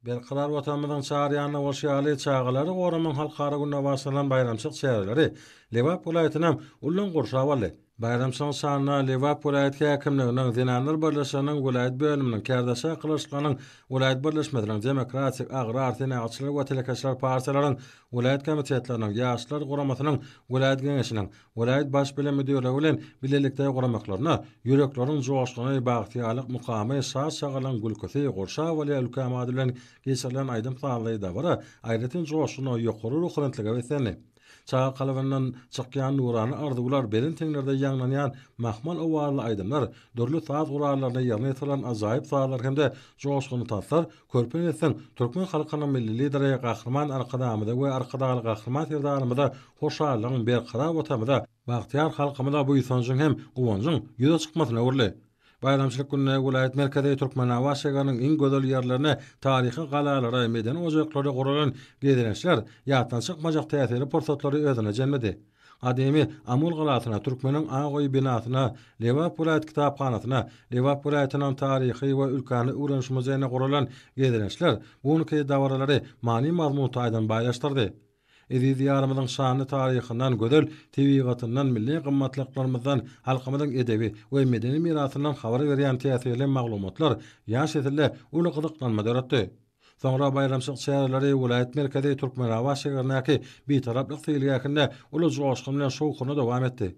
Berkarar Watanymyzyň çar ýanynda bolşy ýaly, çagalary goramagyň halkara gününe bagyşlanan baýramçylyk çäreleri Lebap welaýatynda ullam gurşap aldy. Baýramçylygyň şanyna Lebap welaýat häkimliginiň, Zenanlar birleşiginiň welaýat bölüminiň, Kärdeşi Akylyçlynyň welaýat birleşmesiniň, Demokratik, Agrar, Senagatçylar we Telekeçiler partiýalaryň welaýat komitetleriniň, Ýaşlar guramasynyň welaýat geňeşiniň, welaýat Baş bilim müdirligi bilen bilelikde guramaklaryna ýürekleriň joşguny, bagtyýarlyk mukamy, şat-şagalaň gülküsi, gurşap alýar ülkäm ady bilen geçirilen aýdym-sazly dabara aýratyn joşguna, ýokary ruhubelentlige beslendi. Çaga kalbyndan çykýan nurana arzuwlar, belent heňlerde ýaňlanýan mahmal owazly aýdymlar, dürli saz gurallaryny ýerine ýetiren ajaýyp sazlar hem-de joşgunly tanslar Körpe neslin türkmen halkynyň Milli Lideri Gahryman Arkadagymyza we Arkadagly Gahryman Serdarymyza hoşallygyň, berkarar Watanymyza, bagtyýar halkymyza buýsanjyň hem guwanjyň ýüze çykmasyna öwrüldi. Baýramçylyk gününe welaýat merkezi Türkmenabat şägeriniň iň gözel ýerlerine, taryhy galalara, medeni ojaklara guralan gezelençler ýatdan çykmajak täsirli pursatlary özüne jemledi. Gadymy Amul galasyna, Türkmeniň Ak öýi binasyna, Lebap welaýat kitaphanasyna, Lebap welaýatynyň Taryhy we ülkäni öwreniş muzeýine guralan gezelençler bu günki dabaralary many-mazmun taýdan baýlaşdyrdy. Eziz Diýarymyzyň şanly taryhyndan, gözel tebigatyndan, milli gymmatlyklarymyzdan, halkymyzyň edebi we medeni mirasyndan habar berýän täsirli maglumatlar ýaş nesille uly gyzyklanma döretdi. Soňra baýramçylyk çäreleri welaýat merkezi Türkmenabat şäherindäki Bitaraplyk seýilgähinde uly joşgun bilen şowhunly dowam etdi.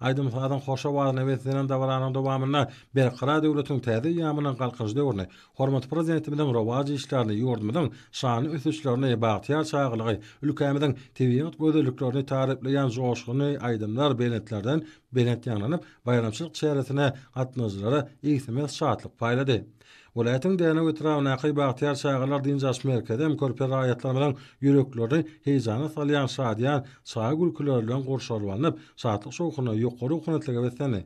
Aýdym-sazyň hoş owazyna beslenýän dabaranyň dowamynda Berkarar döwletiň täze eýýamynyň Galkynyş döwrüni, hormatly Prezidentimiziň rowaç işlerini, ýurdumyzyň şanly ösüşlerini, bagtyýar çagalygy, ülkämiziň tebigat gözelliklerini taryplaýan joşgunly aýdymlar belentlerden belent ýaňlanyp, baýramçylyk çäresine gatnaýjylara egsilmez şatlyk paýlady. Welaýatyň Dänew etrabyndaky Bagtyýar çagalar dynç alyş merkezi hem körpe raýatlarymyzyň ýüreklerini heýjana salýan şadyýan çaga gülküleri bilen gurşalyp alnyp, şatlyk-şowhuna, ýokary ownatlyga beslendi.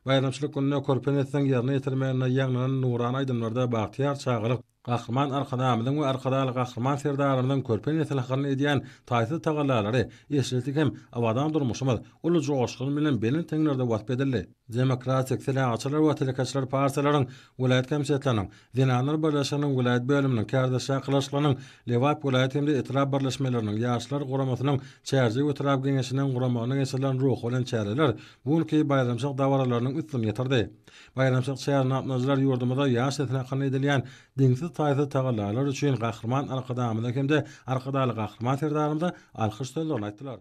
Baýramçylyk gününe körpe nesliň ýerine ýetirmeginde ýaňlanan nurana aýdymlarda bagtyýar çagalyk Gahryman Arkadagymyzyň we Arkadagly Gahryman Serdarymyzyň körpe nesil hakynda edýän taýsyz tagallalary, eşretlik hem abadan durmuşymyz uly joşgun bilen belent heňlerde wasp edildi. Demokratik, Senagatçylar we Telekeçiler partiýalaryň welaýat komitetleriniň, Zenanlar birleşiginiň welaýat bölüminiň, Kärdeş şakylaşyklarynyň Lebap welaýat hem-de etrap birleşmeleriniň, Ýaşlar guramasynyň Çärjew etrap geňeşiniň guramagynda geçirilen ruhubelent çäreler bu günki baýramçylyk dabaralarynyň üstüni ýetirdi. Baýramçylyk çäresine gatnaşyjylar ýurdumyzda ýaş sesine hakynda edilýän deňsiz-taýsyz tagallalary üçin Gahryman Arkadagymyza hem-de Arkadagly Gahryman Serdarymyza alkyş sözlerini aýtdylar.